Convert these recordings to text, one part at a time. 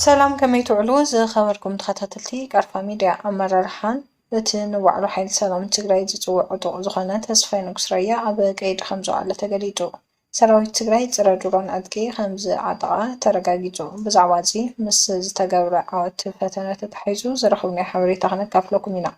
ሰላም ከመይ ትውዕሉ ዝኸበርኩም ተኸታተልቲ ቃርፋ ሚድያ ኣመራርሓን እቲ ንባዕሉ ሓይሊ ሰላም ትግራይ ዝፅውዕ ዕጡቕ ዝኾነ ተስፋይ ንጉስ ራያ ኣብ ቀይዲ ከምዝወዓለ ተገሊፁ። ሰራዊት ትግራይ ፅረ ድሮን ዕጥቂ ከምዝዓጠቓ ተረጋጊፁ። ብዛዕባ እዚ ምስ ዝተገብረ ዓወት ፈተነ ተተሓሒዙ ዝረኸብናዮ ሓበሬታ ክነካፍለኩም ኢና።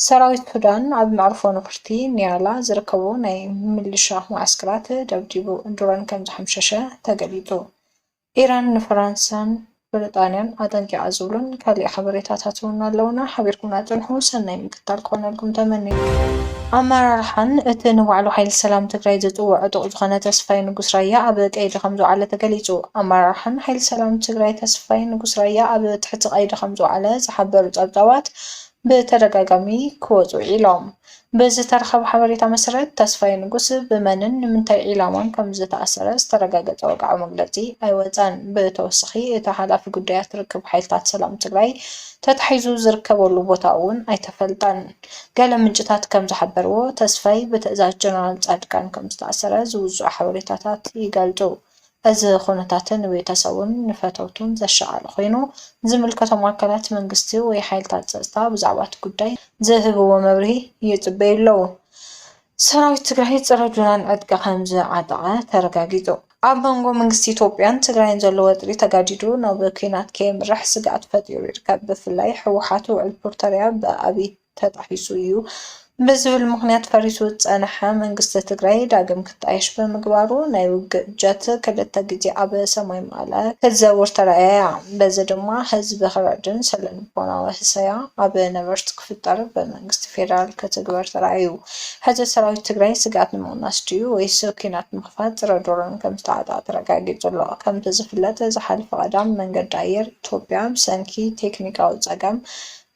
ሰራዊት ሱዳን ኣብ መዕርፎ ነፍርቲ ኒያላ ዝርከቡ ናይ ምልሻ መዓስከራት ደብዲቡ ድሮን ከምዝሓምሸሸ ተገሊፁ። ኢራን ንፈራንሳን ብርጣንያን ኣጠንቂቓ ዝብሉን ካሊእ ሓበሬታታት እውን ኣለዉና፣ ሓቢርኩምና ፅንሑ፣ ሰናይ ምክትታል ክኾነልኩም ተመኒና። ኣመራርሓን እቲ ንባዕሉ ሓይሊ ሰላም ትግራይ ዝፅውዕ ዕጡቕ ዝኾነ ተስፋይ ንጉስ ራያ ኣብ ቀይዲ ከምዝወዓለ ተገሊፁ። ኣመራርሓን ሓይሊ ሰላም ትግራይ ተስፋይ ንጉስ ራያ ኣብ ትሕቲ ቀይዲ ከምዝወዓለ ዝሓበሩ ፀብፃባት ብተደጋጋሚ ክወፁ ውዒሎም። ብዝተረኸበ ሓበሬታ መሰረት ተስፋዬ ንጉስ ብመንን ንምንታይ ዒላማን ከምዝተኣሰረ ዝተረጋገፀ ወግዓዊ መግለፂ ኣይወፀን። ብተወሳኺ እቲ ሓላፊ ጉዳያት ርክብ ሓይልታት ሰላም ትግራይ ተታሒዙ ዝርከበሉ ቦታ እውን ኣይተፈልጠን። ገለ ምንጭታት ከምዝሓበርዎ ተስፋይ ብትእዛዝ ጀነራል ፃድቃን ከምዝተኣሰረ ዝውፅኡ ሓበሬታታት ይገልፁ። እዚ ኩነታት ንቤተሰቡን ንፈተውቱን ዘሻቐለ ኮይኑ፣ ዝምልከቶም ኣካላት መንግስቲ ወይ ሓይልታት ፀፅታ ብዛዕባ'ቲ ጉዳይ ዝህብዎ መብርሂ ይፅበዩ ኣለው። ሰራዊት ትግራይ ፀረ ጁናን ዕጥቂ ከምዝዓጠቐ ተረጋጊፁ። ኣብ መንጎ መንግስቲ ኢትዮጵያን ትግራይን ዘሎ ወጥሪ ተጋዲዱ ናብ ኲናት ከየምርሕ ስግኣት ፈጢሩ ይርከብ። ብፍላይ ህወሓት ውዕል ፕሪቶርያ ብኣብይ። ተጣሒሱ እዩ ብዝብል ምኽንያት ፈሪሱ ዝፀነሐ መንግስቲ ትግራይ ዳግም ክጣየሽ ብምግባሩ ናይ ውግእ ጀት ክልተ ግዜ ኣብ ሰማይ መቐለ ክትዘውር ተራእያ። በዚ ድማ ህዝቢ ክርዕድን ስነልቦናዊ ህሰያ ኣብ ነበርቲ ክፍጠር ብመንግስቲ ፌደራል ክትግበር ተራእዩ። ሕዚ ሰራዊት ትግራይ ስግኣት ንምቕናስ ድዩ ወይስ ኲናት ንምኽፋት ፅረ ድሮን ከምዝተዓጠቐ ተረጋጊፁ ኣሎ። ከምቲ ዝፍለጥ ዝሓለፈ ቀዳም መንገዲ ኣየር ኢትዮጵያ ብሰንኪ ቴክኒካዊ ፀገም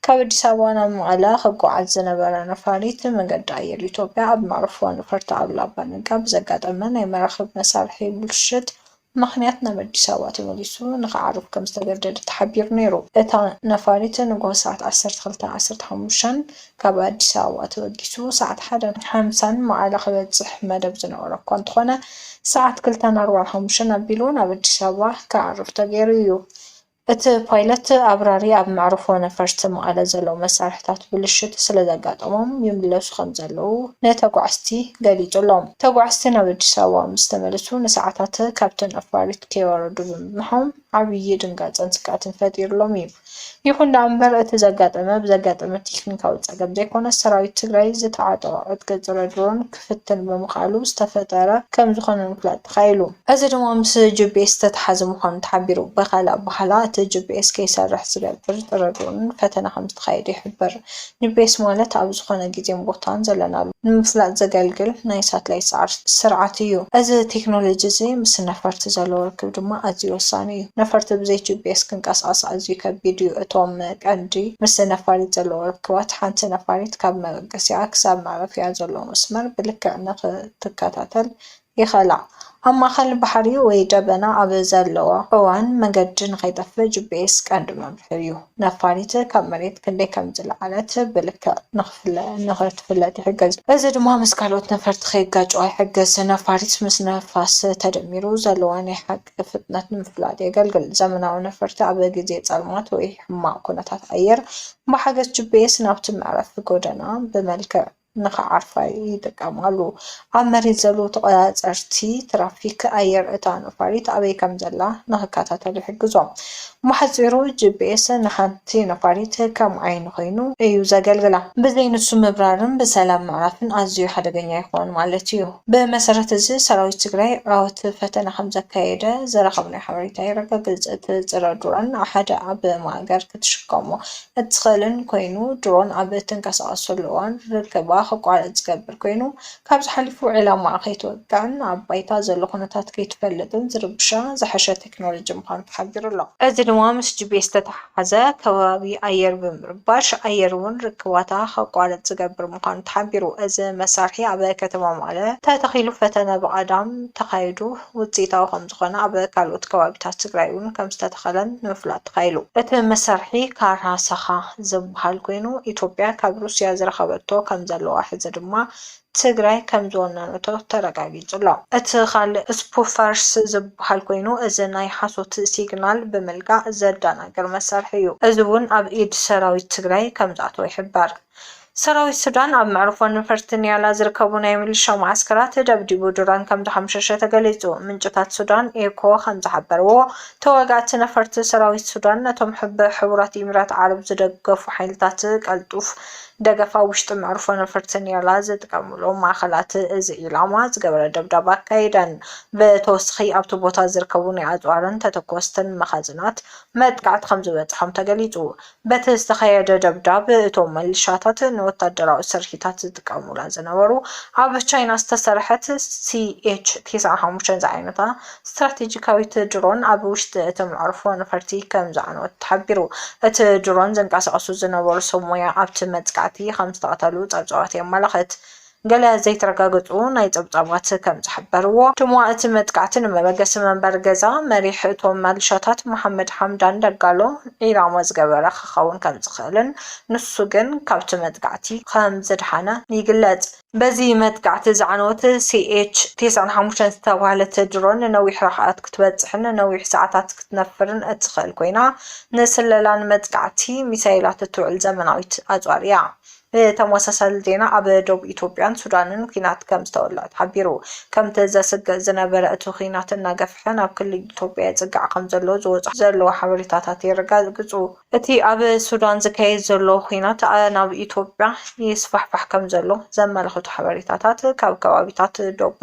ካብ ኣዲስ ኣበባ ናብ መቐለ ክጓዓዝ ዝነበረ ነፋሪት ብመገዲ ኣየር ኢትዮጵያ ኣብ መዕርፎ ነፈርቲ ኣሉላ ኣባ ነጋ ብዘጋጠመ ናይ መራኽብ መሳርሒ ብልሽት ምኽንያት ናብ ኣዲስ ኣበባ ተመሊሱ ንክዓርፍ ከምዝተገደደ ተሓቢሩ ነይሩ። እታ ነፋሪት ንጉሆ ሰዓት ዓሰርተ ክልተን ዓሰርተ ሓሙሽተን ካብ ኣዲስ ኣበባ ተበጊሱ ሰዓት ሓደን ሓምሳን መቐለ ክበፅሕ መደብ ዝነበሮ እኳ እንተኾነ ሰዓት ክልተን ኣርባዓን ሓሙሽተን ኣቢሉ ናብ ኣዲስ ኣበባ ክዓርፍ ተገይሩ እዩ። እቲ ፓይለት ኣብራሪ ኣብ መዕርፎ ነፈርቲ መቐለ ዘለዉ መሳርሕታት ብልሽት ስለዘጋጠሞም ይምለሱ ከምዘለዉ ንተጓዓዝቲ ገሊጹሎም። ተጓዓዝቲ ናብ ኣዲስ ኣበባ ምስ ተመልሱ ንሰዓታት ካብቲ ነፋሪት ከይወረዱ ብምጽንሖም ዓብዪ ድንጋጸን ስግኣትን ፈጢሩሎም እዩ። ይኹን ደኣ እምበር እቲ ዘጋጠመ ብዘጋጠመ ቴክኒካዊ ጸገም ዘይኮነስ ሰራዊት ትግራይ ዝተዓጠቖ ዕጥቂ ጽረ ድሮን ክፍትን ብምኽኣሉ ዝተፈጠረ ከም ዝኾነ ንምፍላጥ ተኻኢሉ። እዚ ድማ ምስ ጂፒኤስ ዝተተሓዘ ምዃኑ ተሓቢሩ። ብኻልእ ኣበሃህላ እቲ ጂፒኤስ ከይሰርሕ ዝገብር ጥርርርን ፈተነ ከም ዝተኻየደ ይሕብር። ጂፒኤስ ማለት ኣብ ዝኾነ ግዜን ቦታን ዘለናሉ ንምፍላጥ ዘገልግል ናይ ሳትላይት ሰዓርቲ ስርዓት እዩ። እዚ ቴክኖሎጂ እዚ ምስ ነፈርቲ ዘለዎ ርክብ ድማ ኣዝዩ ወሳኒ እዩ። ነፈርቲ ብዘይ ጂፒኤስ ክንቀሳቐሳ ኣዝዩ ከቢድ እዩ። እቶም ቀንዲ ምስ ነፋሪት ዘለዎ ርክባት ሓንቲ ነፋሪት ካብ ኣንቀሲቓ ክሳብ መዕረፊኣ ዘሎ መስመር ብልክዕ ንኽትከታተል ይኽእላ። ኣብ ማእከል ባሕሪ ወይ ደበና ኣብ ዘለዋ እዋን መገዲ ንኸይጠፍእ ጂፒኤስ ቀንዲ መምርሒ'ዩ። ነፋሪት ካብ መሬት ክንደይ ከም ዝለዓለት ብልክዕ ንኽትፍለጥ ይሕግዝ። እዚ ድማ ምስ ካልኦት ነፈርቲ ከይጋጨዋ ይሕግዝ። ነፋሪት ምስ ንፋስ ተደሚሩ ዘለዋ ናይ ሓቂ። ፍጥነት ንምፍላጥ የገልግል። ዘመናዊ ነፈርቲ ኣብ ግዜ ጸልማት ወይ ሕማቕ ኩነታት ኣየር ብሓገዝ ጂፒኤስ ናብቲ መዕረፊ ጎደና ብመልክዕ ንኽዓርፋ ይጥቀማሉ። ኣብ መሬት ዘለዉ ተቖጻጸርቲ ትራፊክ ኣየር እታ ነፋሪት ኣበይ ከምዘላ ንኽከታተሉ ይሕግዞም። ብሓጺሩ ጂፒኤስ ንሓንቲ ነፋሪት ከም ዓይኒ ኮይኑ እዩ ዘገልግላ። ብዘይ ንሱ ምብራርን ብሰላም ምዕራፍን ኣዝዩ ሓደገኛ ይኸውን ማለት እዩ። ብመሰረት እዚ ሰራዊት ትግራይ ዓወት ፈተነ ከም ዘካየደ ዝረኸብናዮ ሓበሬታ የረጋግጽ። እቲ ጽረ ድሮን ሓደ ኣብ ማእገር ክትሽከሞ እትኽእልን ኮይኑ፣ ድሮን ኣብ እትንቀሳቐሰሉ እዋን ርክባ ክቋረጽ ዝገብር ኮይኑ፣ ካብዚ ሓሊፉ ዒላማኣ ከይትወቅዕን ኣብ ባይታ ዘሎ ኩነታት ከይትፈልጥን ዝርብሻ ዝሐሸ ቴክኖሎጂ ምዃኑ ተሓቢሩ ኣሎ። እዚ ድማ ምስ ጂፒኤስ ዝተተሓሓዘ ከባቢ ኣየር ብምርባሽ ኣየር'ውን ርክባታ ከቋርጽ ዝገብር ምዃኑ ተሓቢሩ። እዚ መሳርሒ ኣብ ከተማ መቐለ ተተኺሉ ፈተነ ብቐዳም ተኻይዱ ውጽኢታዊ ከምዝኾነ ኣብ ካልኦት ከባቢታት ትግራይ'ውን ከምዝተተኸለን ንምፍላጥ ተኻኢሉ። እቲ መሳርሒ ካራ-ሳኻ ዝብሃል ኮይኑ ኢትዮጵያ ካብ ሩስያ ዝረኸበቶ ከምዘለዋ ሕዚ ድማ ትግራይ ከምዝወነነቶ ተረጋጊፁ'ሎ። እቲ ኻልእ ስፑፈርስ ዝበሃል ኮይኑ እዚ ናይ ሓሶት ሲግናል ብምልጋእ ዘደናግር መሳርሒ እዩ። እዚ እውን ኣብ ኢድ ሰራዊት ትግራይ ከምዝኣተወ ይሕበር። ሰራዊት ሱዳን ኣብ መዕርፎ ነፈርቲ ኒያላ ዝርከቡ ናይ ሚሊሻ መዓስከራት ደብዲቡ ድሮን ከምዝሓምሸሸ ተገሊፁ። ምንጭታት ሱዳን ኤኮ ከምዝሓበርዎ ተዋጋእቲ ነፈርቲ ሰራዊት ሱዳን ነቶም ብሕቡራት ኢሚራት ዓረብ ዝደገፉ ሓይልታት ቀልጡፍ ደገፍ ኣብ ውሽጢ መዕርፎ ነፈርቲ ኒያላ ዝጥቀምሎም ማእኸላት እዚ ዒላማ ዝገበረ ደብዳብ ኣካይደን። ብተወሳኺ ኣብቲ ቦታ ዝርከቡ ናይ ኣፅዋርን ተተኮስትን መኻዝናት መጥቃዕቲ ከምዝበፅሖም ተገሊፁ። በቲ ዝተኸየደ ደብዳብ እቶም ምልሻታት ንወታደራዊ ስርሒታት ዝጥቀሙላ ዝነበሩ ኣብ ቻይና ዝተሰርሐት ሲኤች ቴስዓን ሓሙሽተን ዝዓይነታ ስትራቴጂካዊት ድሮን ኣብ ውሽጢ እቲ መዕርፎ ነፈርቲ ከም ዝዓነወት ተሓቢሩ። እቲ ድሮን ዘንቀሳቕሱ ዝነበሩ ሰብ ሞያ ኣብቲ መጥቃዕቲ ከም ዝተቐተሉ ጸብጻባት የመላኽት። ገለ ዘይተረጋገጹ ናይ ጸብጻባት ከም ዝሕበርዎ፣ ድማ እቲ መጥቃዕቲ ንመበገሲ መንበሪ ገዛ መሪሕ እቶም መሊሻታት መሓመድ ሓምዳን ደጋሎ ዒላማ ዝገበረ ክኸውን ከም ዝኽእልን ንሱ ግን ካብቲ መጥቃዕቲ ከም ዝደሓነ ይግለጽ። በዚ መጥቃዕቲ ዝዓነወት ሲኤች ቴስዓን ሓሙሽተን ዝተባህለት ድሮን ንነዊሕ ርሕቐት ክትበጽሕን ንነዊሕ ሰዓታት ክትነፍርን እትኽእል ኮይና፣ ንስለላን መጥቃዕቲ ሚሳይላት እትውዕል ዘመናዊት ኣጽዋር እያ። ብተመሳሳሊ ዜና ኣብ ዶብ ኢትዮጵያን ሱዳንን ኲናት ከም ዝተወልዐ ተሓቢሩ። ከምቲ ዘስግእ ዝነበረ እቲ ኲናት እናገፍሐ ናብ ክልል ኢትዮጵያ ይጽጋዕ ከም ዘሎ ዝወጽኡ ዘለዉ ሓበሬታታት የረጋግጹ። እቲ ኣብ ሱዳን ዝካየድ ዘሎ ኹናት ናብ ኢትዮጵያ ይስፋሕፋሕ ከምዘሎ ዘመላኽቱ ሓበሬታታት ካብ ከባቢታት ዶብ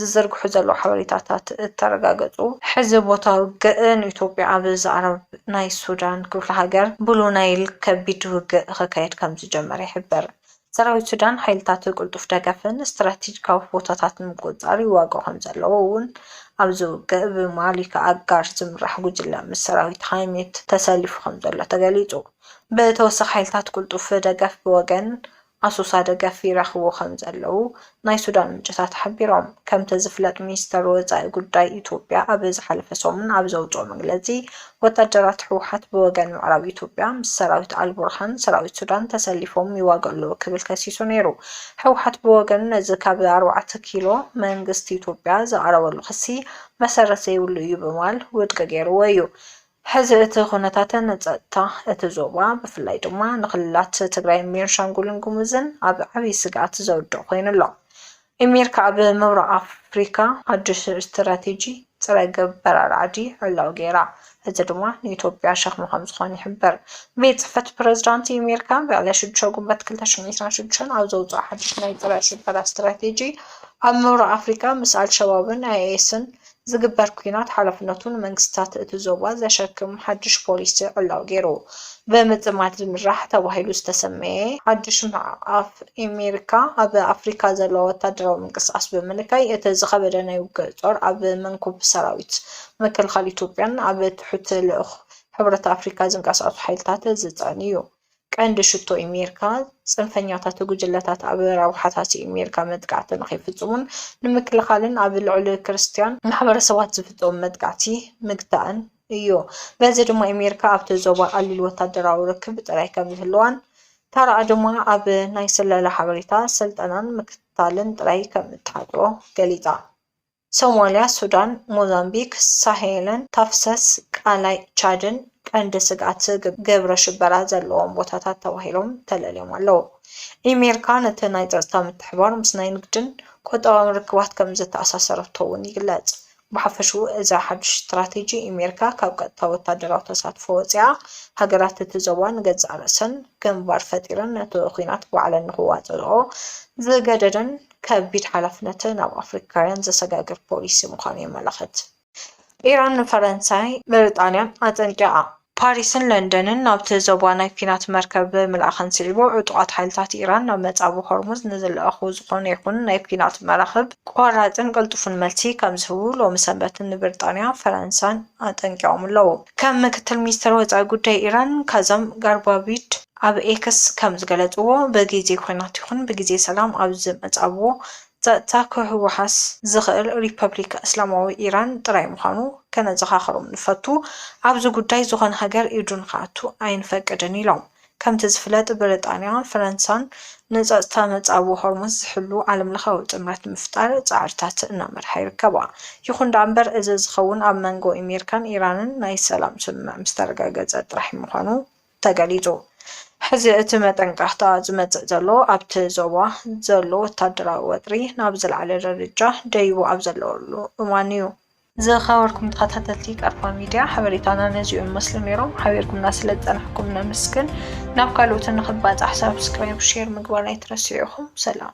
ዝዝርግሑ ዘለዉ ሓበሬታታት እተረጋገፁ፣ ሕዚ ቦታ ውግእ ንኢትዮጵያ ኣብ ዝኣረብ ናይ ሱዳን ክፍለ ሃገር ብሉ ናይል ከቢድ ውግእ ኸካየድ ከምዝጀመረ ይሕብር። ሰራዊት ሱዳን ሓይልታቱ ቅልጡፍ ደገፍን ስትራቴጂካዊ ቦታታት ንምቁጽጻር ይዋግኡ ከምዘለዉ እውን ኣብዚ ውግእ ብማሊክ ኣጋር ዝምራሕ ጉጅለ ምስ ሰራዊት ሃይሜት ተሰሊፉ ከምዘሎ ተገሊጹ። ብተወሳኺ ሓይልታት ቅልጡፍ ደገፍ ብወገን ኣሶሳ ደገፍ ይረኽቡ ከምዘለዉ ናይ ሱዳን ምንጭታት ሓቢሮም። ከምቲ ዝፍለጥ ሚኒስተር ወጻኢ ጉዳይ ኢትዮጵያ ኣቢ ዝሓለፈ ሰሙን ኣብ ዘውጽኦ መግለጺ፣ ወታደራት ህወሓት ብወገን ምዕራብ ኢትዮጵያ ምስ ሰራዊት ኣልቡርሃን ሰራዊት ሱዳን ተሰሊፎም ይዋግኡ ኣለዉ ክብል ከሲሱ ነይሩ። ህወሓት ብወገኑ ነዚ ካብ ኣርባዕተ ኪሎ መንግስቲ ኢትዮጵያ ዝቐረበሉ ክሲ መሰረት ዘይብሉ እዩ ብምባል ውድቂ ገይርዎ እዩ። ሕዚ እቲ ኩነታትን ፀጥታ እቲ ዞባ ብፍላይ ድማ ንክልላት ትግራይን ቤንሻንጉልን ጉሙዝን ኣብ ዓብዪ ስግኣት ዘውድቕ ኮይኑ ኣሎ። ኣሜሪካ ኣብ ምብራቕ ኣፍሪካ ሓዱሽ ስትራቴጂ ፅረ-ገብ በራሪ ዓዲ ዕላዊ ገይራ፣ እዚ ድማ ንኢትዮጵያ ሸኽሚ ከምዝኾን ይሕበር። ቤት ፅሕፈት ፕረዚዳንት ኣሜሪካ ብዕለት ሽዱሽተ ጉንበት ክልተ ሽሕን ዒስራን ሽዱሽተን ኣብ ዘውፅኦ ሓዱሽ ናይ ፅረ-ሽበራ ስትራቴጂ ኣብ ምብራቕ ኣፍሪካ ምስ ኣልሸባብን ኣይኤስን ዝግበር ኲናት ሓላፍነቱ ንመንግስታት እቲ ዞባ ዘሸክም ሓድሽ ፖሊሲ ዕላዊ ገይሩ ብምጥማት ዝምራሕ ተባሂሉ ዝተሰመየ ሓድሽ ምዕቃፍ ኤሜሪካ ኣብ ኣፍሪካ ዘለዎ ወታደራዊ ምንቅስቓስ ብምንካይ እቲ ዝኸበደ ናይ ውግእ ጾር ኣብ መንኩብ ሰራዊት ምክልኻል ኢትዮጵያን ኣብ ትሑት ልኡኽ ሕብረት ኣፍሪካ ዝንቀሳቐሱ ሓይልታት ዝጽዕን እዩ። ቀንዲ ሽቶ ኣሜሪካ፣ ጽንፈኛታት ጉጅለታት ኣብ ረብሓታት ኣሜሪካ መጥቃዕቲ ንኸይፍጽሙን ንምክልኻልን ኣብ ልዕሊ ክርስትያን ማሕበረሰባት ዝፍጸሙ መጥቃዕቲ ምግታእን እዩ። በዚ ድማ ኣሜሪካ ኣብቲ ዞባ ቀሊል ወተሃደራዊ ርክብ ጥራይ ከም ዝህልዋን ተራኣ ድማ ኣብ ናይ ስለላ ሓበሬታ፣ ስልጠናን ምክትታልን ጥራይ ከም እትሓጽሮ ገሊጻ። ሶማልያ፣ ሱዳን፣ ሞዛምቢክ ሳሄልን ተፍሰስ ቃላይ ቻድን ቀንዲ ስግኣት ግብረ ሽበራ ዘለዎም ቦታታት ተባሂሎም ተለልዮም ኣለዉ። ኢሜሪካ ነቲ ናይ ጸጥታ ምትሕብባር ምስ ናይ ንግድን ቁጠባውን ርክባት ከም ዘተኣሳሰረቶ እውን ይግለጽ። ብሓፈሽኡ እዚ ሓድሽ ስትራቴጂ ኢሜሪካ ካብ ቀጥታዊ ወታደራዊ ተሳትፎ ወጺኣ ሃገራት እቲ ዞባ ንገዛእ ርእሰን ግንባር ፈጢረን ነቲ ኲናት ባዕለን ንኽዋጽእኦ ዝገደደን ከቢድ ሓላፍነትን ኣብ ኣፍሪካውያን ዘሰጋግር ፖሊሲ ምዃኑ የመላኽት። ኢራን ንፈረንሳይ፣ ብሪጣንያን ኣጠንቂቓ። ፓሪስን ለንደንን ናብቲ ዞባ ናይ ኲናት መርከብ ምልኣኸን ስዒቡ፣ ዕጡቓት ሓይልታት ኢራን ናብ መጻብብ ሆርሙዝ ንዝልኣኹ ዝዀነ ይዅን ናይ ኲናት መራኽብ ቆራጽን ቅልጡፍን መልሲ ከምዝህቡ ሎሚ ሰንበት ንብሪጣንያ፣ ፈረንሳን ኣጠንቂቖም'ለዉ። ከም ምክትል ሚኒስተር ወጻኢ ጉዳይ ኢራን ካዘም ጋርባቪድ ኣብ ኤክስ ከም ዝገለጽዎ፣ ብግዜ ኲናት ይኹን ብግዜ ሰላም ኣብ ዝመጻብቦ ጸጥታ ክውሃሃስ ዝኽእል ሪፐብሊክ እስላማዊ ኢራን ጥራይ ምዃኑ ከነዘኻኽሮም ንፈቱ፣ ኣብዚ ጉዳይ ዝኾነ ሃገር ኢዱ ንኽኣቱ ኣይንፈቅድን ኢሎም። ከምቲ ዝፍለጥ ብሪጣንያ ፈረንሳን ንጸጥታ መጻብቦ ሆርሙዝ ዝሕሉ ዓለምለኻዊ ጥምረት ንምፍጣር ጻዕርታት እናመርሓ ይርከባ። ይኹን ደኣምበር እዚ ዝኸውን ኣብ መንጎ ኢሜሪካን ኢራንን ናይ ሰላም ስምምዕ ምስ ተረጋገጸ ጥራሕ ምዃኑ ተገሊጹ። ሕዚ እቲ መጠንቀቕታ ዝመጽእ ዘሎ ኣብቲ ዞባ ዘሎ ወታደራዊ ወጥሪ ናብ ዝለዓለ ደረጃ ደይቡ ኣብ ዘለወሉ እዋን'ዩ። ዝኸበርኩም ተኸታተልቲ ቀርፋ ሚድያ ሓበሬታና ነዚኡ ይመስሉ ነይሮም። ሓቢርኩምና ስለ ዝፀናሕኩም ነመስግን። ናብ ካልኦት ንኽባፃሕ ሳብስክራይብ፣ ሼር ምግባር ኣይትረስዑ ኢኹም። ሰላም።